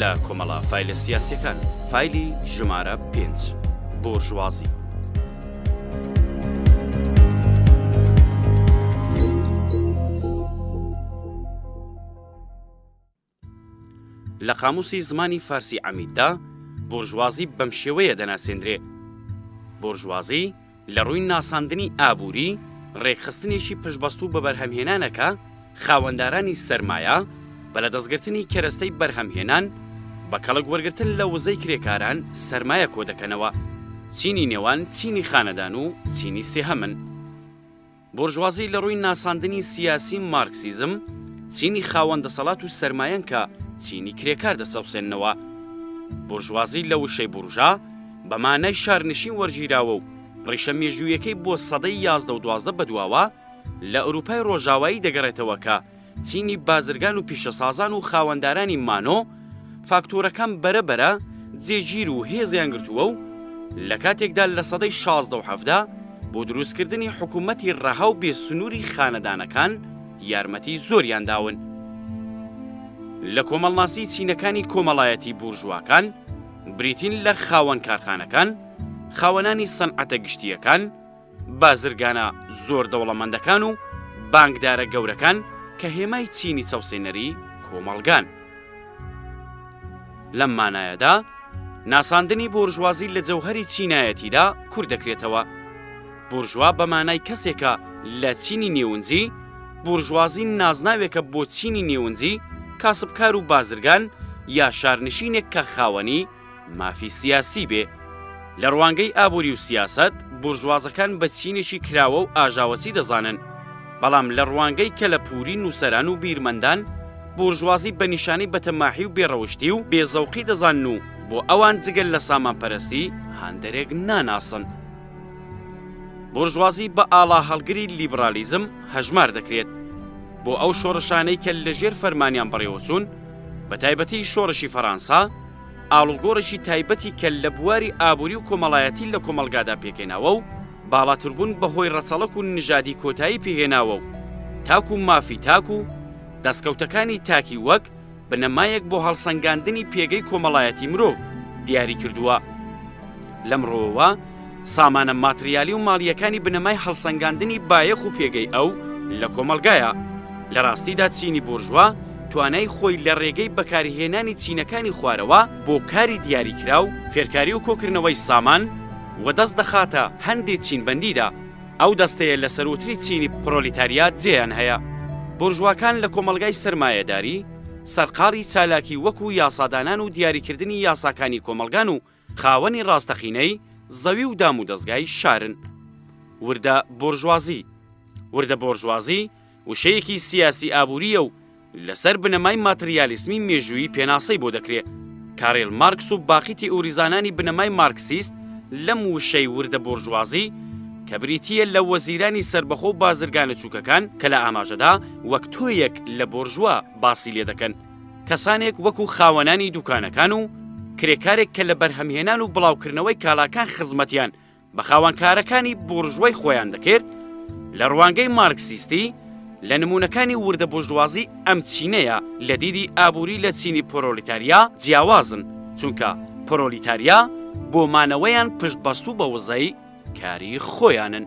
لە کۆمەڵە فایلە سیاسیەکان، فایلی ژمارە پێنج، بۆرژوازی. لە قاموسی زمانی فارسی عەمیددا، بۆرژوازی بەم شێوەیە دەناسێندرێ، بۆرژوازی، لە ڕووی ناساندنی ئابووری، ڕێکخستنێکی پشتبەستوو بە بەرهەمهێنانەکە، خاوەندارانی سەرمایە، بە لەدەستگرتنی کەرەستەی بەرهەمهێنان، بە کەڵک وەرگرتن لە وزەی کرێکاران سەرمایە کۆدەکەنەوە. چینی نێوان چینی خانەدان و چینی سێهەمن. بۆرژوازی لە ڕووی ناساندنی سیاسی مارکسیزم، چینی خاوەن دەسەڵات و سەرمایەن کە چینی کرێکار دەچەوسێننەوە. بۆرژوازی لە وشەی بورژا بە مانای شارنشین وەرگیراوە و ڕیشە مێژوویەکەی بۆ سەدەی یازدە و دوازدە بەدواوە لە ئورووپای ڕۆژاوایی دەگەڕێتەوە کە چینی بازرگان و پیشەسازان و خاوەندارانی مانۆ فاکتۆرەکان بەرە بەرە جێگیر و هێزیان گرتووە و لە کاتێکدا لە سەدەی شازدە و حەڤدا بۆ دروستکردنی حکوومەتی ڕەها و بێ سنووری خانەدانەکان یارمەتی زۆریان داون. لە کۆمەڵناسی چینەکانی کۆمەڵایەتی بورژواکان بریتین لە خاوەن کارخانەکان، خاوەنانی سەنعەتە گشتییەکان، بازرگانە زۆر دەوڵەمەندەکان و بانکدارە گەورەکان کە هێمای چینی چەوسێنەری کۆمەڵگان. لەم مانایەدا ناساندنی بۆرژوازی لە جەوهەری چینایەتیدا کورت دەکرێتەوە، بورژوا بە مانای کەسێکە لە چینی نێونجی، بورژوازی نازناوێکە بۆ چینی نێونجی، کاسبکار و بازرگان یا شارنشینێک کە خاوەنی، مافی سیاسی بێ. لە ڕوانگەی ئابووری و سیاسەت، بورژوازەکان بە چینێکی کراوە و ئاژاوەچی دەزانن، بەڵام لە ڕوانگەی کەلەپووری نووسەران و بیرمەندان، بورژوازی بە نیشانەی بەتەماحی و بێڕەوشتی و بێزەوقی دەزانن و بۆ ئەوان جگە لە سامانپەرەستی، هاندەرێک ناناسن. بورژوازی بە ئاڵاهەڵگری لیبڕالیزم هەژمار دەکرێت. بۆ ئەو شۆڕشانەی کە لەژێر فەرمانیان بەڕێوەچوون، بەتایبەتی شۆڕشی فەرانسا، ئاڵوگۆڕێکی تایبەتی کەل لە بواری ئابووری و کۆمەڵایەتی لە کۆمەڵگادا پێکهێناوە و باڵاتربوون بە هۆی ڕەچەڵەک و نژادی کۆتایی پێهێناوە و تاک و مافی تاک و دەستکەوتەکانی تاکی وەک بنەمایەک بۆ هەڵسەنگاندنی پێگەی کۆمەڵایەتی مرۆڤ دیاری کردووە. لەمڕۆوە سامانە ماتریالی و ماڵییەکانی بنەمای هەڵسەنگاندنی بایەخ و پێگەی ئەو لە کۆمەڵگایە. لە ڕاستیدا چینی بورژوا توانای خۆی لە ڕێگەی بەکارهێنانی چینەکانی خوارەوە بۆ کاری دیاریکراو، فێرکاری و کۆکردنەوەی سامان، وەدەست دەخاتە هەندێ چینبەندیدا. ئەو دەستەیە لە سەرووتری چینی پرۆلیتاریا جێیان هەیە. بورژواکان لە کۆمەڵگای سەرمایەداری، سەرقاڵی چالاکی وەکوو یاسادانان و دیاریکردنی یاساکانی کۆمەڵگان و خاوەنی ڕاستەقینەی زەوی و دامودەزگای شارن. وردە بۆرژوازی، وردە بۆرژوازی وشەیەکی سیاسی ئابوورییە و لەسەر بنەمای ماتریالیسمی مێژوویی پێناسەی بۆ دەکرێ. کارێل مارکس و باقی تیئوریزانانی بنەمای مارکسیست لەم وشەی وردە بۆرژوازی کە بریتییە لە وەزیرانی سەربەخۆ و بازرگانە چووکەکان کە لە ئاماژەدا وەک تۆیەک لە بۆرژوا باسی لێ دەکەن، کەسانێک وەکو خاوەنانی دوکانەکان و کرێکارێک کە لە بەرهەمهێنان و بڵاوکردنەوەی کالاکان خزمەتیان بە خاوەنکارەکانی بورژوای خۆیان دەکرد، لە ڕوانگەی مارکسیستی، لە نموونەکانی وردە بورژوازی ئەم چینەیە لە دیدی ئابووری لە چینی پرۆلیتاریا جیاوازن، چونکە پرۆلیتاریا بۆ مانەوەیان پشتبەستوو بە وزەی کاری خۆیانن.